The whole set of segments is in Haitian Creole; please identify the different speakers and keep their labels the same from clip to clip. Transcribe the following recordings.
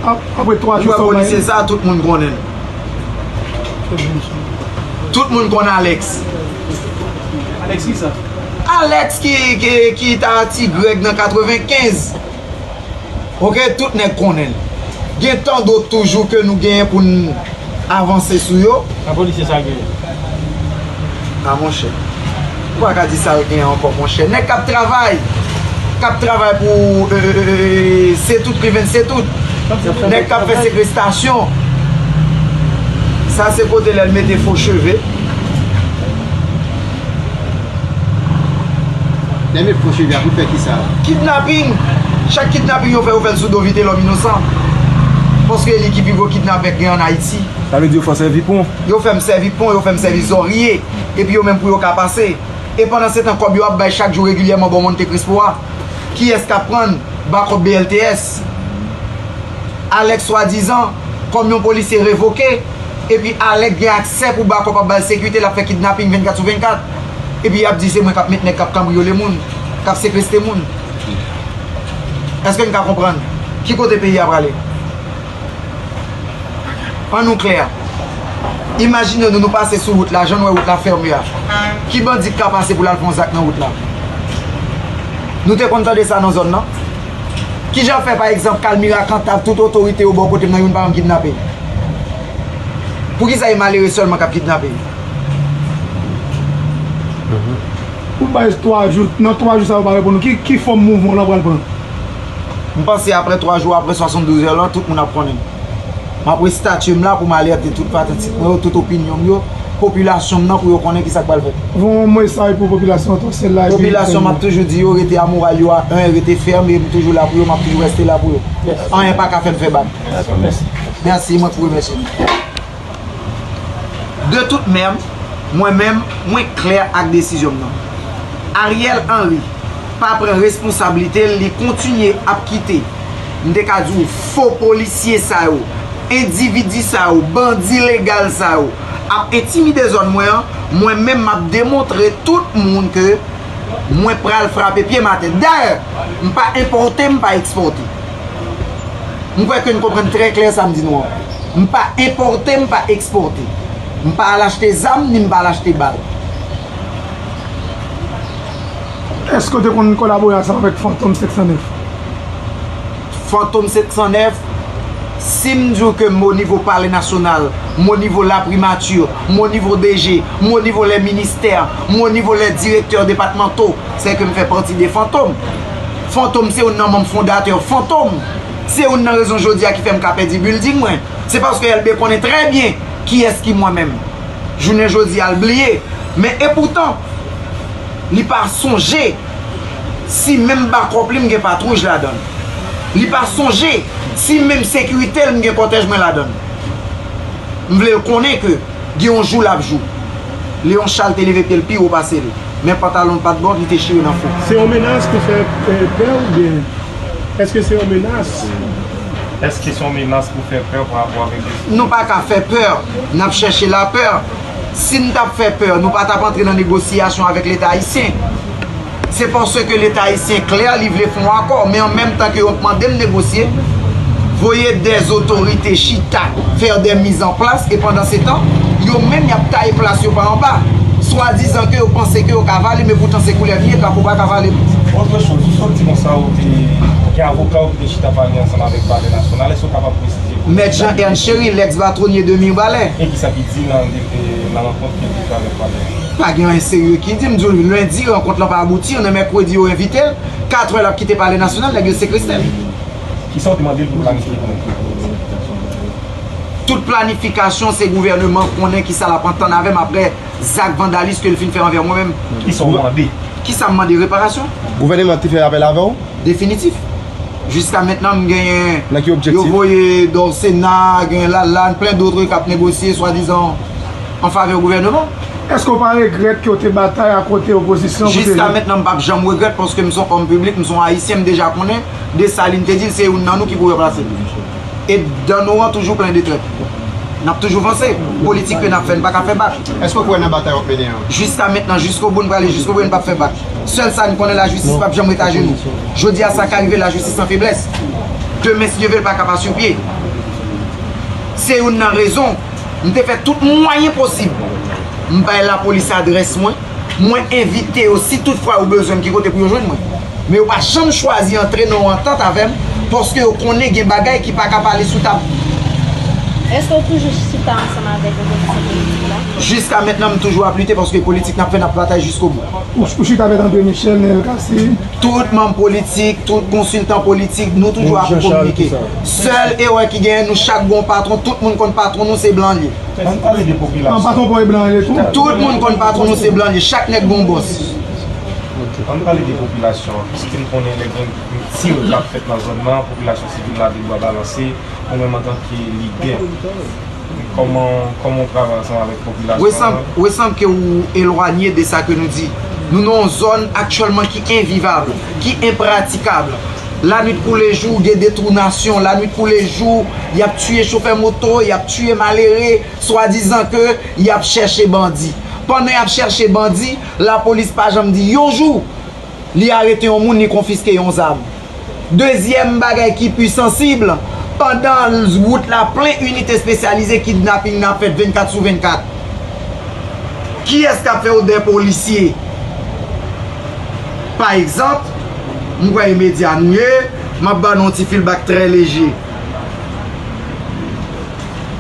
Speaker 1: Nou wè polisye sa tout moun
Speaker 2: konnen l. Tout moun konn Alex.
Speaker 3: Alex ki
Speaker 2: sa? Alex ki ta ti Greg nan 95. Ok tout nèg konnen l. Gen tandot toujou ke nou genyen pou n. Avanse sou yo. An polisye sa gen. A monchè. Ou pa ka di sal gen ankò monchè. Nèg kap travay. Kap travay pou setout riven setout. Nèg kap fè sekrestasyon. Sa se kote lèl mete fo cheve.
Speaker 4: Lè met fo cheve a pou fè kisa? Kidnaping!
Speaker 2: Chak kidnaping yo fè yo fèl sou do vitelòm inosan. Paske e li ki pi gwo kidnapè k gen an Ayiti. Sa vle di yo fè w sèvi
Speaker 3: pon? Yo fè m sèvi pon,
Speaker 2: yo fè m sèvi zòrye. Epi yo menm pou yo ka pase. E pandan se tan kòb yo ap bay chak jou regilyèman bò Monte Crispo a, kiyès k ap prann? Bakòp BLTS. Alèk swadizan. Kòm yon polisye revoke, epi Alec gen aksè pou bakòp ap bal sekite lap fè kidnaping 24 sou 24, epi yap di se mwen kap met nèg kap kanbriyole moun, kap sekeste moun. Eske n ka konprann ki kote peyi a prale? An nou klè, imajine nou nou pase sou wout la jan n wè wout la fème a, ki bandi k ka pase pou lal fè yon zak nan wout la? Nou te konn tande sa nan zòn nan? Ki jan fè pa egzanp Kalmira Kantav tout otorite yo bò kote m nan youn pa janm kidnape? Pou ki sa e malere sèlman k ap kidnape?
Speaker 1: Ou bay s 3 jou, nan 3 jou sa yo pa reponn ou, ki fòm mouvman w lan pral pran? M
Speaker 2: panse aprè 3 jou, aprè 72 è lan, tout moun ap konnen. M ap restatye m la pou m alète tout fanatik mwen yo, tout opinyon m yo, popilasyon m nan pou yo konnen kisa k pral fèt. Yon mesaj pou
Speaker 1: popilasyon Tòsèl la epi nou fè Popilasyon m ap toujou
Speaker 2: di yo rete a moral yo a 1, rete fèm e m toujou la pou yo, m ap toujou rèste la pou yo. Anyen pa ka fè m fè bak. Mèsi, mwen tou remèsye nou. De tout mèm, mwen menm, mwen klè ak desizyon m nan. Ariel Henry pa pran responsablite l, li kontinye ap kite, m te ka di w, fo polisye sa yo, endividi sa yo, bandi legal sa yo ap entimide zòn mwen an, mwen menm m ap demontre tout moun ke mwen pral frape pye m atè. Dayè, m pa enpòte, m pa ekspòte. M kwè ke n konprann trè klè sa m di nou an. M pa enpòte, m pa ekspòte. M pa al achte zam, ni m pa al achte bal.
Speaker 1: Èske w te konn kolabore ansanm avèk Fantom 709? Fantom
Speaker 2: 709, si m di w ke m o nivo palè nasyonal, m o nivo la primati, m o nivo DG, m o nivo lè ministè, m o nivo lè direktè depatmanto, sè ke m fè pati de Fantom. Fantom se youn nan manm fondatè Fantom se youn nan rezon jodi a ki fè m ka pèdi building mwen se paske Elbe konnen trè byen kiyès ki mwen menm jounen jodi a l bliye men epoutan li pa sonje si menm bakòp li m gen patwouj ladan l li pa sonje si menm sekirite l m gen kòtèj mwen ladan l m vle l konnen ke. Gen yon jou lap jou. Leon Charles te leve pyel pi wo pasel. Men pantalon l pat bon, li te chire nan fo. Se yon menas ki fè
Speaker 1: pè ou byen eske se yon menas? Eske
Speaker 3: se yon menas pou fè pè pa rapò avèk Jezi Kris? Nou pa ka fè pè,
Speaker 2: nap chèche lapè. Sin tap fè pè, nou pa tap antre nan negosyasyon avèk leta ayisyen. Se paske leta ayisyen klè, li vle fè yon akò, men an menm tan ke yo ap mande m negosye, voye dè zotorite chita, fè dè miz an plas, e pandan se tan, yo menm y ap taye plas yo pa anba, swadizan ke yo panse ke yo ka vale, men poutan se koulèv li ye, krapo pa ka vale l. Otre choz, ou sot
Speaker 3: di konsa ou te gen avoka ou ki te chita pale ansanm avèk palè nasyonal, èske ou kapab presize pou nou? Mèt Jean Ernst Chéry,
Speaker 2: lèks batwonye de Mirbalè. E kisa ki di nan rankont
Speaker 3: ke. Pa gen anyen serye ki di,
Speaker 2: m di w lendi rankont lan pa abouti, on est mercredi yo envite l, 4 è l ap kite palè nasyonal nèg yo sekreste l. Kisa w te
Speaker 3: mande l pou planifye pou mwen?
Speaker 2: Tout planifikasyon se gouvèneman konnen kisa l ap antann avè m aprè zak vandalis ke l fin fè anvè mwen menm. Kisa w mande?
Speaker 3: Kisa m mande?
Speaker 2: Reparasyon. Gouvèneman te fè
Speaker 4: apèl avè w? Definitif.
Speaker 2: Jiska mentnan m genyen, yo
Speaker 4: voye Dorcena,
Speaker 2: gen Lalane, plen dotre k ap negosye swadizan. an favè gouvèneman. Èske w pa regrèt
Speaker 1: ke w te batay a kote opozisyon pou te. Jiska mentnan m pap
Speaker 2: janm regrèt paske m se yon òm piblik, m se yon Ayisyen, m deja konnen Desalin te di l se youn nan nou ki pou ranplase l. E dan nou an toujou plen de trèt. N ap toujou vanse. Politik ke n ap fè n pa ka fè bak. Èske w kwè nan batay w ap
Speaker 4: mennen an? Jiska mentnan, jiskobou
Speaker 2: n prale jiskobou e n pap fè bak. Sèl sa n konnen lajistis pap janm ret ajenou. Jodi a sa ka rive lajistis san feblès. Demen si Dye ve l pa ka pa sou pye. Se youn nan rezon. M te fè tout mwayen posib. M bay lapolis adrès mwen. Mwen envite yo si tout fwa yo bezwen m ki kote pou yo jwenn mwen. Men yo pa janm chwazi antre nan yon antant avè m paske yo konnen gen bagay ki pa ka pale sou tab. Èske
Speaker 5: ou toujou chita ansanm avèk opozisyon politik la? Jiska mentnan m toujou
Speaker 2: ap lite paske politik n ap fè n ap batay jiskobou. Ou chita avèk André
Speaker 1: Michel, Neel Cassy? Tout manm
Speaker 2: politik, tout konsiltan politik, nou toujou ap kominike. Sèl erè ki genyen nou chak gon patron tout moun konn patron nou se blan li. Ann pale de popilasyon.
Speaker 3: Patron paw e
Speaker 1: blan
Speaker 3: an ye tou.
Speaker 1: Tout moun konn patron
Speaker 2: nou se blan li chak nèg gon boss.
Speaker 3: Ann pale de popilasyon an piske m konnen lè gen tir kap fèt nan zòn nan popilasyon sivil la gen dwa balanse ou menm antanke lidè. Komanw travay ansanm avèk popilasyon an? We sanble ke ou
Speaker 2: elwanye de sa ke nou di. Nou nan yon zòn aktyèlman ki envivab, ki enpratikab. Lanwit kou lejou gen detounasyon, lanwit kou lejou yap tiye chofè moto, yap tiye malere, swadizan ke yap chèche bandi. Pandan yap chèche bandi, lapolis pa janm di yon jou li arete yon moun, li konfiske yon zam. Dezyèm bagay ki pi sansib, pandan wout la plen inite espesyalize kidnaping nan ap fèt 24 sou 24. Kiyès k ap fè odè polisye? Pa egzanp, m kwè e medya nou ye, m ap ban nou yon ti feelback trè leje.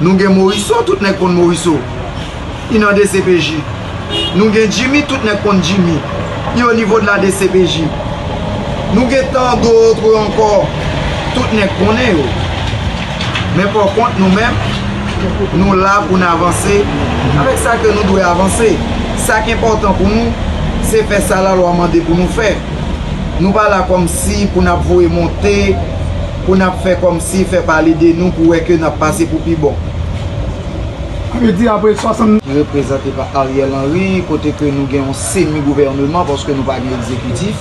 Speaker 2: Nou gen moriso tout nèg konn moriso yn nan dcpj Nou gen jimmy tout nèg konn jimmy yn o nivo de la dcpj Nou gen tan dotre ankò tout nèg konnen yo men pò kont nou menm Nou la pou n avanse avèk sa ke nou dwe avanse sa k enpòtan pou nou se fè sa la lwa mande pou nou fè Nou pa la kòm si pou n ap voye monte pou nap fè kòmsi fè pale de nou pou wè ke nap pase pou pi bon.
Speaker 1: Sa vle di apre 60. Reprezante pa Ariel
Speaker 2: Henry kote ke nou gen yon semi gouvèneman paske nou pa gen egzekitif.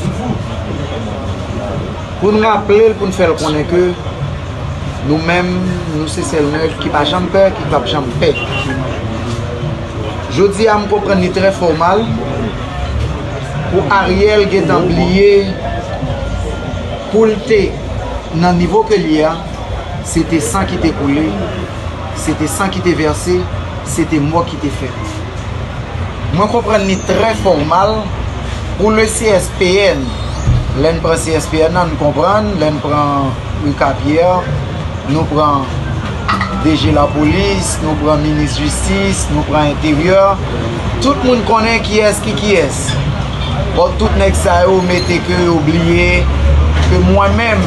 Speaker 2: Pou n raple l, pou n fè l konnen ke nou menm nou se sèl nèg ki pa janm pè, ki pap janm pè. Jodi a m konprann li trè fòmal pou Ariel gentan bliye pou l te. Nan nivo ke l ye a, se te san ki te koule, se te san ki te vèse, se te mò ki te fèt. Mwen konprann li trè fò ou mal, pou le CSPN, lè n pran CSPN nan, n konprann, lè n pran Ricard Pierre, nou pran DG Lapolis, nou pran Minis Jistis, nou pran Enteryè, tout moun konnen kiyès ki kiyès. Bon tout nèg sa yo mete ke yo bliye ke mwen menm,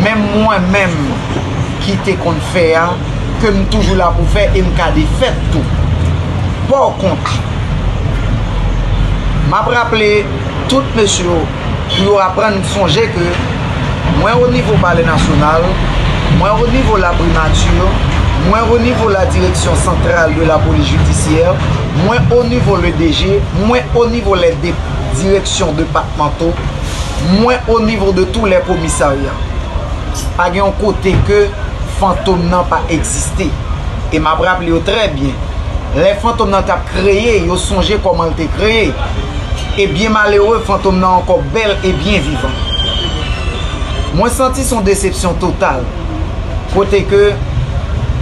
Speaker 2: menm mwen menm ki te konn fè a, ke m toujou la pou fè e m ka defè tou. Pò kont, m ap raple tout mesye yo, pou yo aprann sonje ke mwen o nivo palè nasyonal, mwen o nivo la primature, mwen o nivo la direksyon santral de la polis jidisyè, mwen o nivo le DG, mwen o nivo lè dep direksyon depatmanto, mwen o nivo de tou lè komisarya. Pa gen yon kote ke fantom nan pa egziste. E m ap raple yo trè byen, lè fantom nan t ap kreye, yo sonje kòman l te kreye. e byen malere fantom nan ankò bèl e byen vivan. Mwen santi son desepsyon total kote ke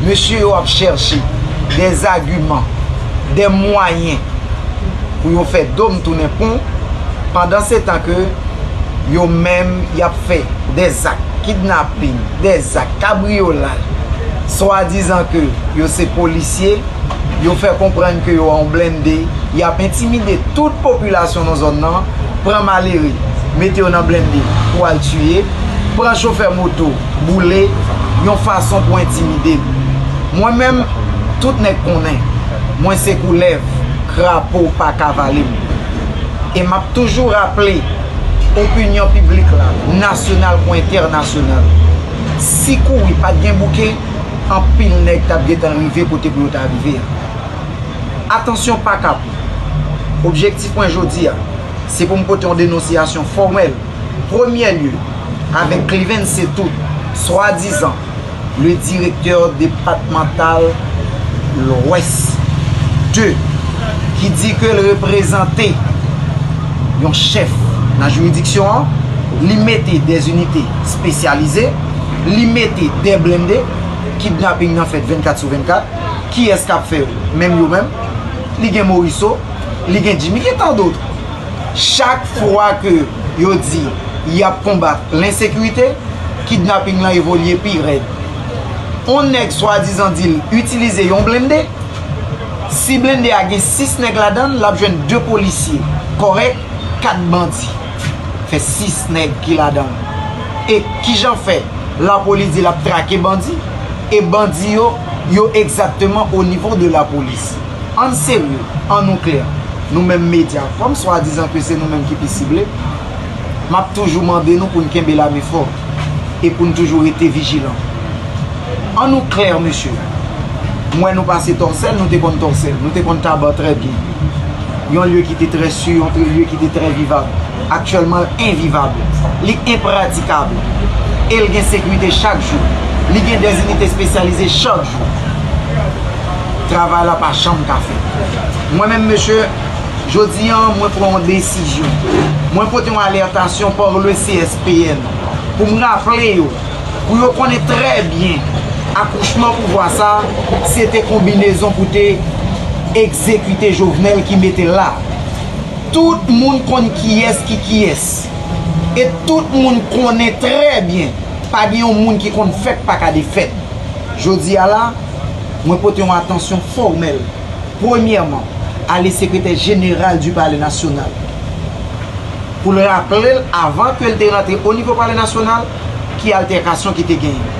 Speaker 2: mesye yo ap chèche dè zagiman, dè mwayen pou yo fè do m tounen pon pandan se tan ke yo menm y ap fè dè zak kidnaping, dè zak kabriyolaj swadizan ke yo se polisye. yo fè konprann ke yo an blende, y ap entimide tout popilasyon nan zòn nan, pran malere, mete yo nan blende pou al tiye, pran chofè moto, boule, yon fason pou entimide n. Mwen menm, tout nèg konnen, mwen se koulèv, krapo pa ka vale m. E m ap toujou raple opinyon piblik la, nasyonal kou entènasyonal, si kouri pa t gen bouke, anpil nèg tap gentan rive kote pou yo ta rive a. Atansyon pa kap. Objektif mwen jodi a, se pou m pote yon denonsiyasyon fòmèl, premyè lye, avèk Klivens se tout, swadizan, le direktè depatmantal Lwès 2, ki di ke l reprezante yon chèf nan jiridiksyon an, li mete de zinite spesyalize, Li mete dè blende, kidnaping nan fèt 24 sou 24, kiyès kap fè yo? Menm yo menm. Li gen Moriso, li gen Jimmy, gen tant d'autres. Chak fwa ke yo di yap konbat l'insécurité, kidnaping lan evolye pi rèd. On nèg swadizan dil itilize yon blende, si blende a gen 6 nèg ladann, lap jwenn 2 polisye kòrèk, 4 bandi. Fè 6 nèg ki ladanl. E kijan fè lapolis di lap trake bandi e bandi yo yo egzakteman o nivo de lapolis? Ann serye, an nou klè, nou menm medya, kòm swadizan ke se nou menm ki pi sible, map toujou mande nou poun kenbe lame fò. e pou n toujou rete vijilan. An nou klè mesye, m wè nou pase Tòsèl, nou te konn Tòsèl, nou te konn Taba trè byen. Yon lye ki te trè si, yon lye ki te trè vivab. Aktyèlman l envivab, li enpratikab e l gen sekirite chak jou. Li gen de zinite espesyalize chak jou. Travay la pa janm ka fèt. Mwen menm mesye, jodi an mwen pran yon desizyon. Mwen pote yon alètasyon par le CSP. Pn. Pou m raple yo, pou yo konnen trè byen, akouchman pouvwa sa, se te konbinezon pou te egzekite Jovenel ki mete l la. Tout moun konn kiyès ki kiyès. E tout moun konnen trè byen, pa gen yon moun ki konn fèt pa ka defèt. Jodi a la, mwen pote yon atansyon fòmèl, premyèman, a le Sekretè Jeneral du Palais National, pou l raple l avan ke l te rantre o nivo palè nasyonal ki altèkasyon ki te genyen.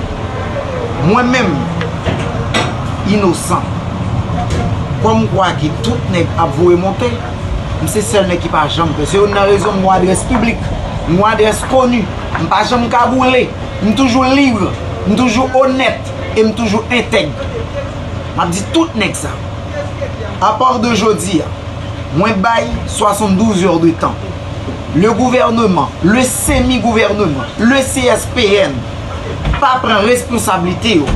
Speaker 2: Mwen menm, inosan, kòm m kwè ke tout nèg ap voye monte, m se sèl nèg ki pa janm pè. Se youn nan rezon m gon adrès piblik, m gon adrès koni, m pa janm kagoule, m toujou lib, m toujou onèt e m toujou entèg. M ap di tout nèg sa, apar de jodi a, Mwen bay 72 heures de tan. Le gouvernement, le semi gouvernement, le CSPN pa pran responsabilite yo,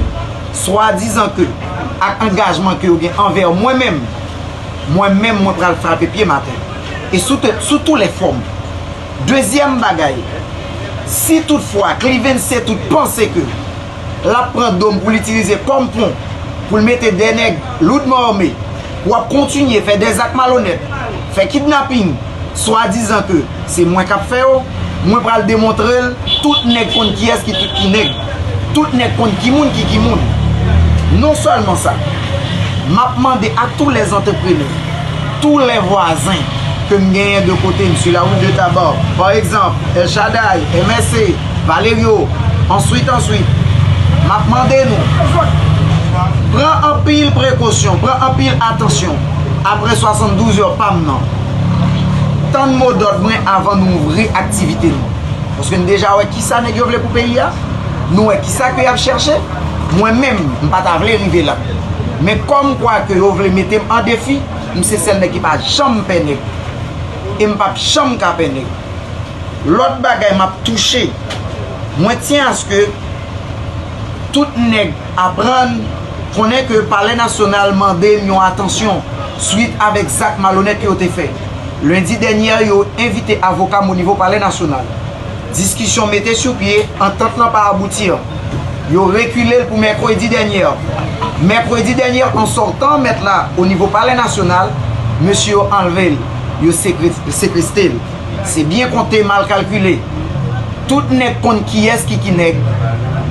Speaker 2: swa dizan ke ak angajman ke yo gen anvè mwen menm, mwen menm mwen pral frape pye m atè. E sou te, sou tou lè fòm. Dezyèm bagay, si tout fwa Clevencet tout panse ke. l ap pran do m pou l itilize kòm pon pou l mete 2 nèg loudman arme pou ap kontinye fè 2 zak malonèt, fè kidnaping swadizan ke se mwen k ap fè yo, mwen pral demontre l tout nèg konn kiyès ki tout ki nèg, tout nèg konn ki moun ki ki moun. Non sèlman sa, m ap mande a tou lè antreprenè, tou lè vwazen ke m genyen de kote m, su la route de Tabarre, pa egzanp, El Shadaï, MSC, Valerio, Answit, answit, m ap mande nou pran anpil prekosyon, pran anpil atansyon apre 72 è pa m nan. Tann mo dòd mwen avan nou ouvri aktivite nou. Paske n deja wè kisa nèg yo vle pou peyi a, nou wè kisa ke y ap chèche. Mwen menm, m pa ta vle rive la. Men kòmkwa ke yo vle mete m an defi, m se sèl nèg ki pa janm pè nèg. E m p ap janm ka pè nèg. Lòt bagay map touche, mwen tyen aske tout nèg aprann konnen ke palè nasyonal mande m yon atansyon swit avèk zak malonèt yo te fè lendi dènyè yo envite avoka m onivo palè nasyonal diskisyon mete sou pye antant lan pa abouti an yo rekile l pou mèkredi dènyè mèkredi dènyè an sòtan mèt la onivo palè nasyonal mesye yo anlve l. yo sekreste l. Se byen konte mal kalkile. Tout nèg konn kiyès ki ki nèg,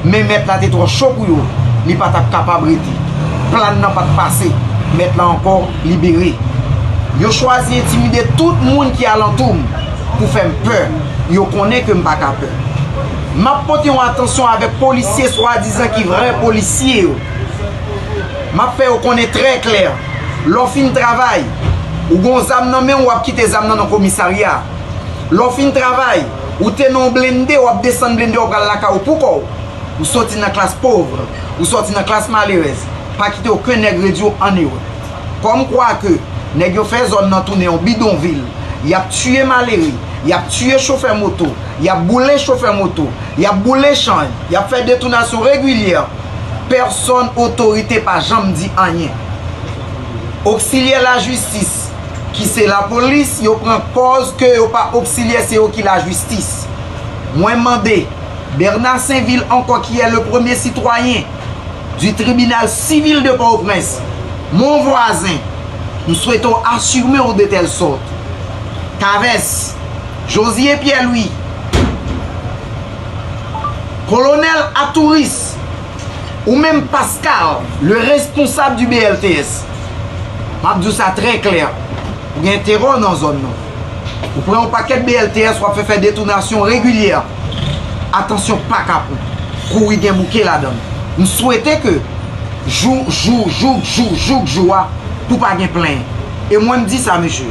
Speaker 2: men mèt la te twò cho pou yo, li pa t ap kapab rete. Plan nan pa t pase, mèt la ankò libere. Yo chwazi entimide tout moun ki alantou m pou fè m pè, yo konnen ke m pa ka pè. M ap pote yon atansyon avèk polisye swadizan ki vrè polisye yo. M ap fè yo konnen trè klè. Lè w fin travay, ou gen yon zam nan men w, w ap kite zam nan nan komisarya. Lè w fin travay, ou te nan yon blennde, w ap desann blennde w pral lakay ou poukò w. Ou soti nan klas pauvre, ou soti nan klas malerèz. Pa kite oken nèg redi w anywhere. Kòm kwa ke nèg yo fè zòn nan tounen yon bidonvil. Y ap tiye malere, y ap tiye chofè moto. y ap boule chofè moto, y ap boule chany, y ap fè detounasyon regilyè, pèsonn otorite pa janm di anyen. Oksilyè lajistis ki se lapolis yo pran pòz ke yo pa oksilyè se yo ki lajistis. Mwen mande Bernard Sainvil ankò ki è le premye sitwayen di tribinal sivil de Pòtoprens, mon voisin, m swete w asime w de tèl sòt. Chavez. Josie Pierre Louis, Colonel Atouris, ou menm Pascal, le responsable du BLTS, m ap di w sa trè klè, ou gen terò nan zòn nan. Ou pran yon pakèt BLTS w ap fè fè detounasyon regilyè. Atansyon pa kapon. Kouri gen bouke ladan l. M swete ke jou jou jouk jou jouk jou a pou pa gen plenyen. E mwen m di sa mesye.